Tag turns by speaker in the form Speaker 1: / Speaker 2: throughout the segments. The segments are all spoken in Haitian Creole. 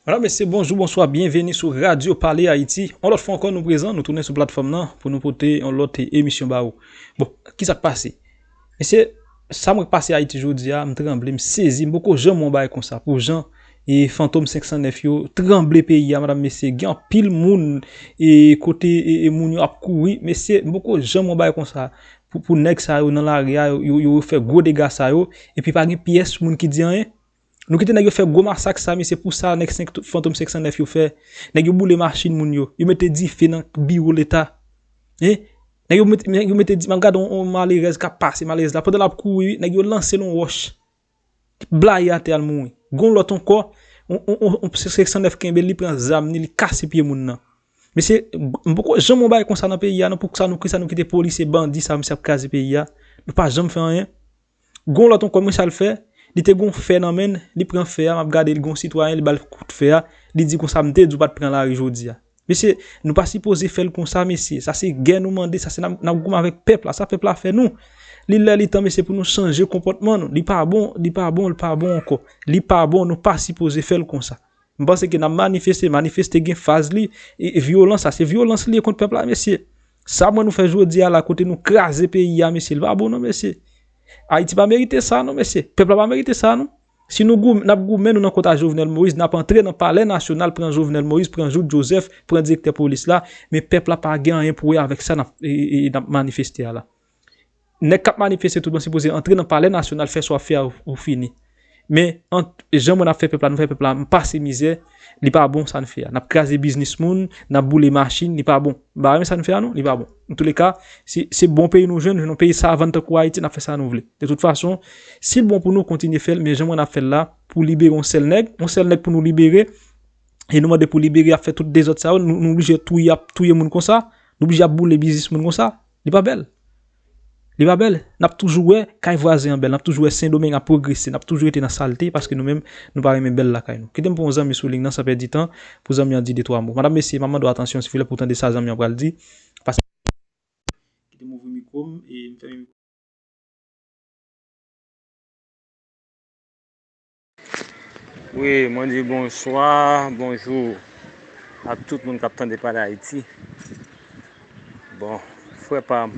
Speaker 1: Madame, Mesye, bonjou, bonswa, byenveni sou Radyo Pale Ayiti. On lòt fwa ankò nou prezan, nou tounen sou platfòm nan pou nou pote on lòt emisyon ba ou. Bon, ki sa k pase? Mesye, sa mwen k pase Ayiti jodi a, m tranble, m sezi, m poko janm wè on bagay konsa pou jan e fantom 509 yo tranble peyi a, madame, mesye. Gen anpil moun e kote e moun yo ap kouri. Mesye, m poko janm wè on bagay konsa. pou nèg sa yo nan lari a yo fè gwo dega sa yo epi pa gen pyès moun ki di anyen? Nou kite nèg yo fè gwo masak sa mesye pou sa nèg fantom 509 yo fè nèg yo boule machin moun yo yo mete dife nan biwo leta hein nèg yo mete map gade yon malerèz kap pase malerèz la pandan lap kouri wi nèg yo lansel yon wòch blayi atè al mouri. Gon lòt ankò, yon pse 509 kenbe l li pran zam ni li kase pye moun nan. Mesye, m poko janm wè yon bagay konsa nan peyi a non pou sa nou ki sa nou kite polisye bandi sa misye ap kraze peyi a, nou pa janm fè anyen. Gon lòt ankò men sa l fè, li te gon fè nan men l, li pran fè a, m ap gade l gon sitwayen li ba l kout fè a, li di konsa m te di w pa t pran lari jodi a. Mesye nou pa sipoze fèl konsa mesye sa se gè nou mande sa se nap goumen avèk pèp la sa pèp la fè nou li lè li tan mesye pou nou chanje konpòtman nou li pa bon li pa bon li pa bon ankò li pa bon nou pa sipoze fèl konsa m panse ke nan manifeste manifeste gen faz li vyolans sa se vyolans li ye kont pèp la mesye sa mwen nou fè jodi a la kote nou kraze peyi a mesye li pa bon non mesye ayiti pa merite sa non mesye pèp la pa merite sa non. Si nou goumen nap goumen nou nan kont a jovenel moïse nap antre nan palè nasyonal pran jovenel moïse pran jout joseph pran direktè polis la men pèp la pa gen anyen pou wè avèk sa nap nap manifeste a la nèg kap manifeste tout bon si poze antre nan palè nasyonal fè sa wap fè a ou fini men ant jan mwen ap fè pèp la nou fè pèp la pase mizè. Li pa bon sa n fè a. N ap kraze biznis moun, n ap boule machin, li pa bon. M pa renmen sa n fè a non, li pa bon. Antouleka, si se bon peyi nou jwenn, yon peyi savann tankou Ayiti, n ap fè sa nou vle. De tout fason, si l bon pou nou, kontinye fè l, men jan mwen ap fè l la, pou libere yon sèl nèg, yon sèl nèg pou nou libere, e nou mande pou libere, y ap fè tout dezòd sa yo, nou oblije touye moun konsa, nou oblije ap boule biznis moun konsa. Li pa bèl. Li pa bèl. N ap toujou wè kay vwazen an bèl. N ap toujou wè Sendomeng ap pwogrese. N ap toujou rete nan salte paske nou menm nou pa renmen bèl lakay nou. Kite m pran yon zanmi sou ling nan san pèdi tan pou zanmi an di de twa mo. Madam mesye, m ap mande w atansyon silvouplè pou w tande sa zanmi an pral di paske li pa bèl. Kite m ouvri mikwo m e m fèmen mikwo m.
Speaker 2: Wi mwen di bonswa, bonjou ak tout moun kap tande pale ayiti bon frè pam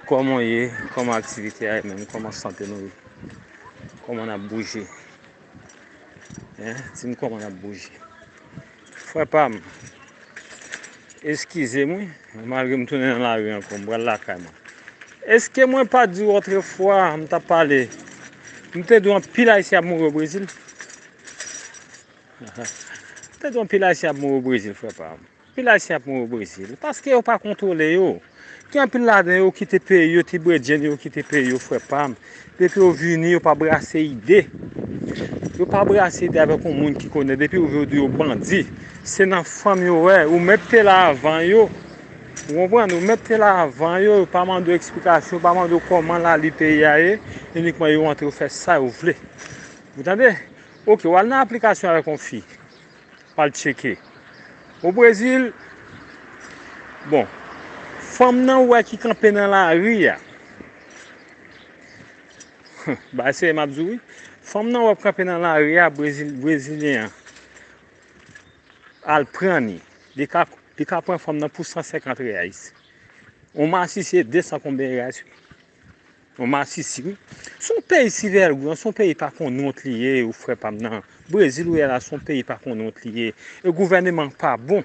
Speaker 2: kòman w ye kòman aktivite a ye menm kòman sante nou ye kòman nap bouje hein dim kòman nap bouje. Frè pam eskizem wi malgre m tounen nan lari ankò m pral lakay mwen eske mwen pa diw otrefwa m tap pale m te diw anpil ayisyen ap mouri o brezil m te diw anpil ayisyen ap mouri o brezil frè pam anpil ayisyen ap mouri o brezil paske yo pa kontwole yo. Gen anpil ladan yo kite peyi yo ti bredjenn yo kite peyi yo frè pam. Depi yo vini yo pa brase ide. Yo pa brase ide avèk yon moun ki konnen. Depi yo vini yo di yo bandi. Se nan fanm yo wè. Ou mèt te la avan yo. Ou konprann? Ou mèt te la avan yo. Yo pa mande w eksplikasyon. Yo pa mande w kòman la li peyi a ye. Inikman yo antre yo fè sa yo vle. Ou tande? Ok, w al nan aplikasyon avèk yon fi. Al tcheke. O Brezil, bon, fanm nan ou wè ki kanpe nan lari a, bagay serye m ap di w wi, fanm nan ou wè ki kanpe nan lari a, Brezil, Brezilyen an al pran ni, li ka, li ka pran fanm nan pou 150 reyais. On masisi se 200 konbyen reyais wi. Yon masisi wi. Son peyi si vègou an, son peyi pa konn wont li ye ou frè pam nan. Brezil ou ye la son peyi pa konn wont li ye. E gouvèneman an pa bon.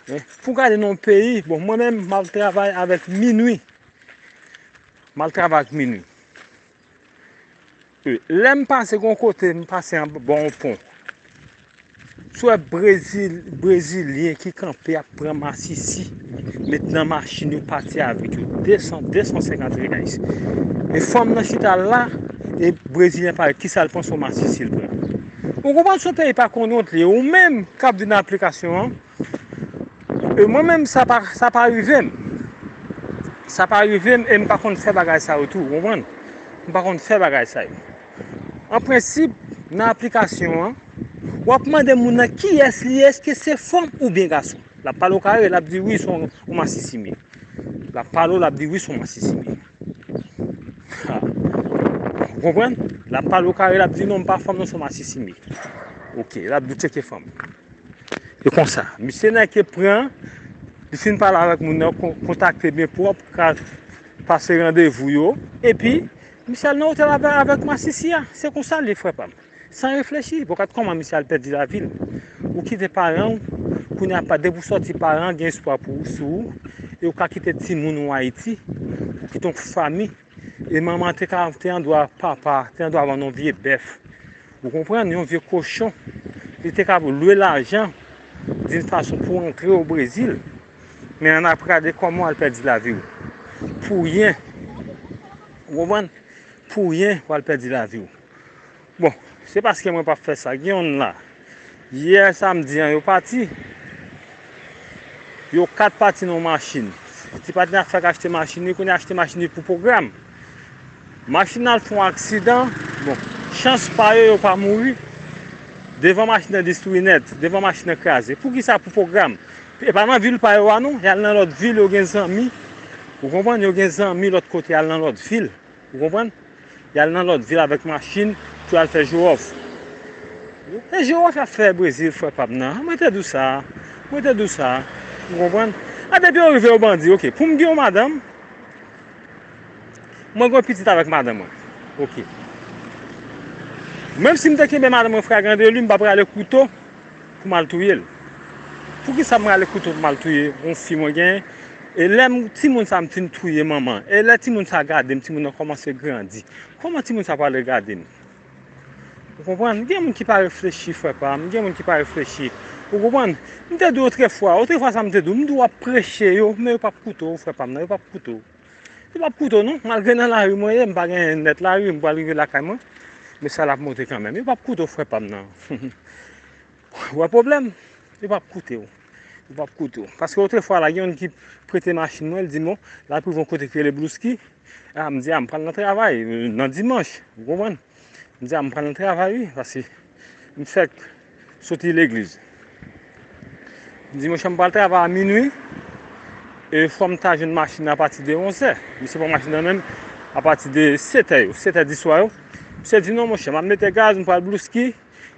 Speaker 2: Eh, pou gade nan yon peyi, bon mwen menm mal travay avèk minwi. Mal travay ak minwi. Lèm pase gon kote m pase anba yon pon m t wè brezilyen ki kanpe ap pran masisi met nan machin yo pati avèk yo 200 250 reais e fanm nan chita la e brezilyen pa yo kisa l pran son masisi l pran ou konprann son peyi pa konn wont li ou menm kap vin nan aplikasyon an E mwen menm sa pa sa pa rive m. Sa pa rive m e m pa konn fè bagay sa yo tou, ou konprann? M pa konn fè bagay sa yo. An prensip, nan aplikasyon an, w ap mande moun nan kiyès li ye, èske se fanm oubyen gason. L ap pale w kare, l ap di wi son w masisi mye. L ap pale w, l ap di wi son w masisi mye. Ha, ou konprann? L ap pale w kare, l ap di non m pa fanm non son w masisi mye. Ok, l ap di w tcheke fanm. E konsa, misye Nike pran, li fin pale avèk moun nan, kontakte byen pwòp, pase randevou yo, epi, misye al nan otèl avèk masisi a. Se konsa l ye frè pa m. San reflechi, bon gad kòman misye al pèdi lavi l. Ou kite paran w, kounye a pa, depi w sòti paran gen espwa pou ou, sou ou, e ou ka kite timoun ou Ayiti, ou kite yon fami E manman te ka te andwa papa te andwa vann yon vye bèf. Ou konprann yon vye kochon. Li te ka lwe lajan din fason pou antre o Brezil. Men an ap gade kòman wal pèdi lavi ou. Pou ryen. Ou konprann? Pou ryen wal pèdi lavi ou. Bon se paske mwen pap fè sa gen yon la yè samdi an yo pati yo 4 pati nan yon machin ti patnè a fèk achte machin li kounye a achte machin li pou pwogram machin nan fon aksidan bon chans pa yo yo pa mouri devan machin nan destwi nèt devan machin nan kraze poukisa pou pwogram e pa nan vil pa yo a non yal nan lòt vil yo gen zanmi ou konprann yo gen zanmi lòt kote yal nan lòt vil Ou konprann? Y al nan lòt vil avèk machin pou y al fè jowòf. E jowòf y ap fè Brezil frè pa m nan? An mwen te di w sa a. Mwen te di w sa a. Ou konprann? A depi yo rive yo bandi ok. Pou m gen yon madanm, mwen gen yon pitit avèk madanm mwen. Ok. Menm si m te kenbe madanm mwen fragran de li, m pa prale kouto. Pou mal touyel. Poukisa m rale kouto pou mal touye yon fi mwen genyen e lè m timoun sa m fin touye manman e lè timoun sa gadem timoun nan kòmanse grandi kòman timoun sa pral regade m ou konprann gen moun ki pa reflechi frè pam gen moun ki pa reflechi ou konprann m te di w otrefwa otrefwa sa m te di w m di w wap preche yo men yo pap koute w frè pam nan yo pap koute w. Li pap koute w non, malgre nan lari mwen ye, m pa gen nèt lari, m pral rive lakay mwen, men sa l ap monte kanmenm. Yo pap koute w frè pa m nan. Ou wè pwoblèm? Yo pap koute w. Yo pap koute w. Paske otrefwa la, gen yon ki prete machin mwen, l di m, bon, la prive yon kote ki rele Blouski. A, m di, a, m pral nan travay, nan dimanch, ou konprann? M di, a, m pral nan travay wi, paske m fèk. Soti legliz. M di mouche m pral travay a minui. E fò m ta jwenn machin nan apati de onzè. Misye pran machin nan menm apati de setè yo. Setè diswa yo. Misye di non mouche m ap mete gaz m pral blouski.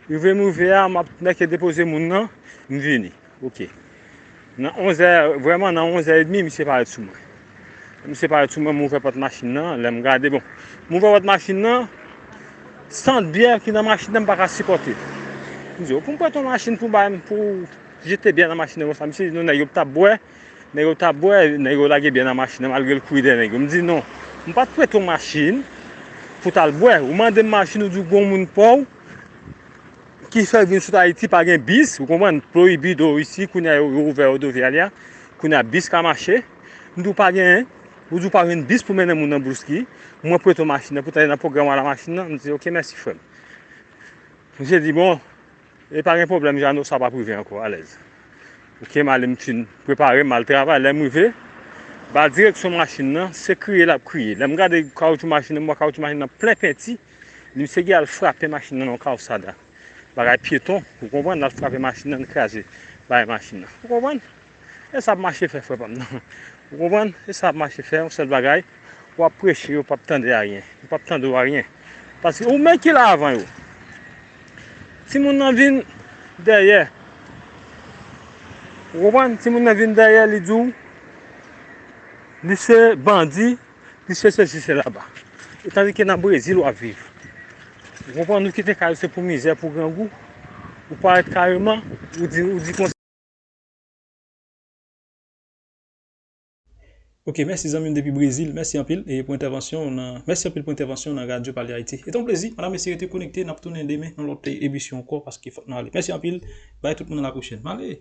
Speaker 2: Rive m rive a m ap nèke depoze moun nan. M vini. Ok. Nan 11 è, vrèman nan 11 è edmi misye parèt sou mwen. Lè misye parèt sou mwen, m ouvè pòt machin nan, lè m gade, bon, m ouvè pòt machin nan, sant byè ki nan machin nan m pa ka sipòte. M di yo, pou m prete yon machin pou bay m, pou jete byè nan machin nan konsa. Misye di non nèg yo p tap bwè, nèg yo tap bwè, nèg yo lage byè nan machin nan malgre l kouri dèyè nèg yo. M di non, m pa t prete w machin pou w t al bwè. Ou mande m machin ou di w gwo moun paw. Ki fè vin sot Ayiti pa gen bis, ou konprann, prohibido ici, kounye a yo ouvè rodoviaria, kounye a bis ka mache. M di w pa gen, ou di w pa gen bis pou mennen moun nan Bouski, mwen prete w machin nan pou ta ale nan pwogram ala machin nan, m di ok mèsi frè m. Misye di bon, e pa gen pwoblèm Jeannot sa pa p rive ankò, alèz. Ok m ale m fin prepare m, m al travay, lè m rive, ba direksyon machin nan, se kriye l ap kriye. Lè m gade kawoutchou machin nan, m wè kawoutchou machin nan plen penti. Li misye ki al frape machin nan nan Calzada. Bagay pyeton, ou konprann, l al frape machin nan, li kraze bagay machin nan. Ou konprann? E sa ap mache fè frè pa m nan. Ou konprann? E sa ap mache fè, yon sèl bagay, w ap preche yo p ap tande aryen. Yo p ap tande w aryen. Paske ou menm ki la avan yo. Timoun nan vin dèyè. Ou konprann? Timoun nan vin dèyè, li di w, li se bandi. Plis ke sesi se laba. E tandi ke nan Brezil wap viv. Ou konprann ou kite kay ou se pou mizè, pou grangou. Ou parèt kareman, ou di, ou di konsa.
Speaker 1: Ok, mèsi zanmim depi Brezil. Mèsi anpil e pou entèvansyon w nan, mèsi anpil pou entèvansyon w nan Radyo Pale Ayiti. E te yon plezi, madam mesye rete konekte, nap tounen demen nan lòt emisyon ankò paske fòk nou ale. Mèsi anpil, bay tout moun a la pwochèn. Male!